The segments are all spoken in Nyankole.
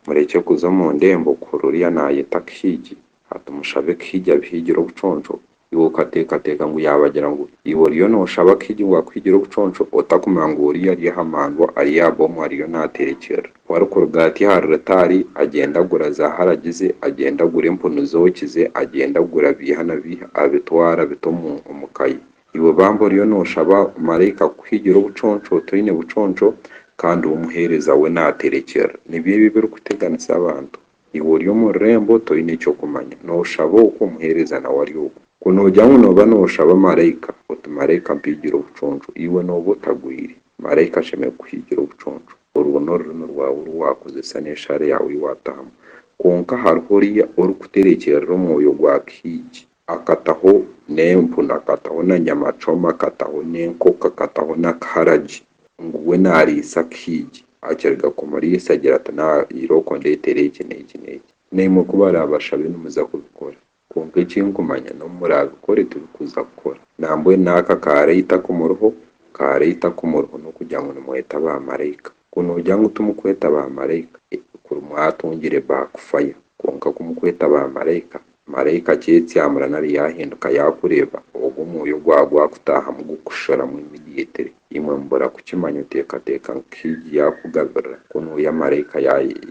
Murekye kuza omu ndembo kuhurira oriya naayeta Kihigi. Hati mushabe Kihigi abihigire obuconco. Iwe okateekateeka ngu yaabagira ngu iwe oriyo nooshaba Kihigi ngu akuhigire obuconco otakumanya ngu oriya ari aha mandwa ari aha bomu ariyo naaterekyerera. Ku arikuruga ati ahari rutaari, agyenda agura zaaharagi ze, agyenda agura empunu zooki ze, agyenda agura biiha na biiha abitwara abita omu omu ka ye. Iwe bambi oriyo nooshaba maraika kukuhigira obuconco otaine buconco kandi ou omuheereza we naaterekyera. Nibyo ebi ebirikuteganisa abantu. Iwe ori omu rurembo toine ky'okumanya. Nooshaba oku, omuheereza nawe ari oku. Ku noogira ngu nooba nooshaba maraika oti maraika mpigire obuconco, iwe nooba otagwire. Maraika ashemereire kukuhigira obuconco. Orwo n'orurimi rwawe oru waakozesa n'eshaare yaawe ei waatahamu. Kwonka hariho oriya orikuterekyerera omwoyo gwa kihiigi. Akataho n'empu nakataho na nyamacoma akataho n'enkoko akataho na kaharagi ngu we nariisa akahiigi akiriga kumuriisa agira ati na irooko ndetere eki n'eki n'eki. Naimwe ku barabashabe nimuza kubikora kwonka eki nkumanya n'obu murabikore tibikuza kukora nambwenu n'aka kaarai takumuriho kaarai takumuriho n'okugira ngu nimweta ba maraika. Ku noogira ngu timukweta baamaraika, kuri mwatungire backfire. Kwonka ku mukweta baamaraika, maraika akyetsyamura nari yaahinduka yaakureeba, ogwo omwoyo ogwaba gwakutaahamu gukusharamu immediately. Imwe mubura kukimanya oteekateeka ngu Higgi yaakugabirira, ku nooya maraika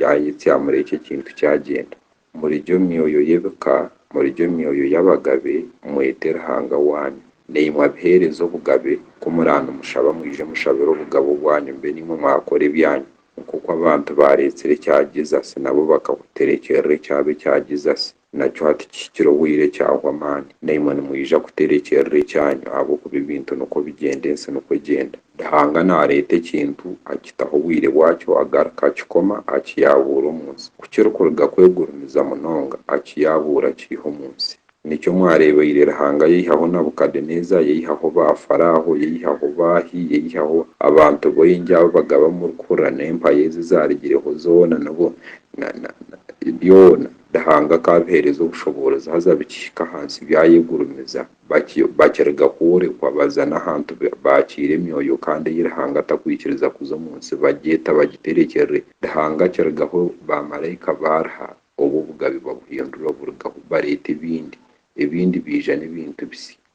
yaayetsyamura ekyo ekintu kyagyenda. Muriryo myoyo y'ebika, muriryo myoyo y'abagabe, mwete Ruhanga waanyu. Naimwe abiheereza obugabe, ku muraanimushaba mwije mushabire obugabe obwanyu mbe naimwe mwakora ebyanyu. Nk'oku abantu baareetsire ekya Jesus, nabo bakakuterekyeerera ekyabo ekya Jesus. Nakyo hati kihikire obwire kyahwa amaani. Naimwe nimwija kuterekyeerera ekyanyu ahabw'okuba ebintu nikwo bigyenda ensi nikwo egyenda. Ruhanga naareeta ekintu, akitaho obwire bwakyo, agaruka akikoma, akiyaabuura omu nsi. Ku kirikuruga kwegurumiza munonga, akiyaabuura akiiha omu nsi. Nikyo mwareebaire Ruhanga yaihaho Nabukadeneeza, yaihaho baafaraaho, yaihaho baahi, yaihaho abantu baingi abu bagaba murikuhurira n'empaya ezi ezaarigireho zoona, n'obu, na, na, na, byona. Ruhanga akaabiheereza obushoboorozi haza bikihika ahansi byayegurumiza. bakiruga kworekwa baza n'ahantu baakiira emyoyo kandi ei Ruhanga atakwikiriza kuza omu nsi bagyeta bagiterekyerere Ruhanga akirugaho ba maraika baariha obwo obugabe babuhindura oburugaho bareeta ebindi ebindi baija n'ebintu bisya.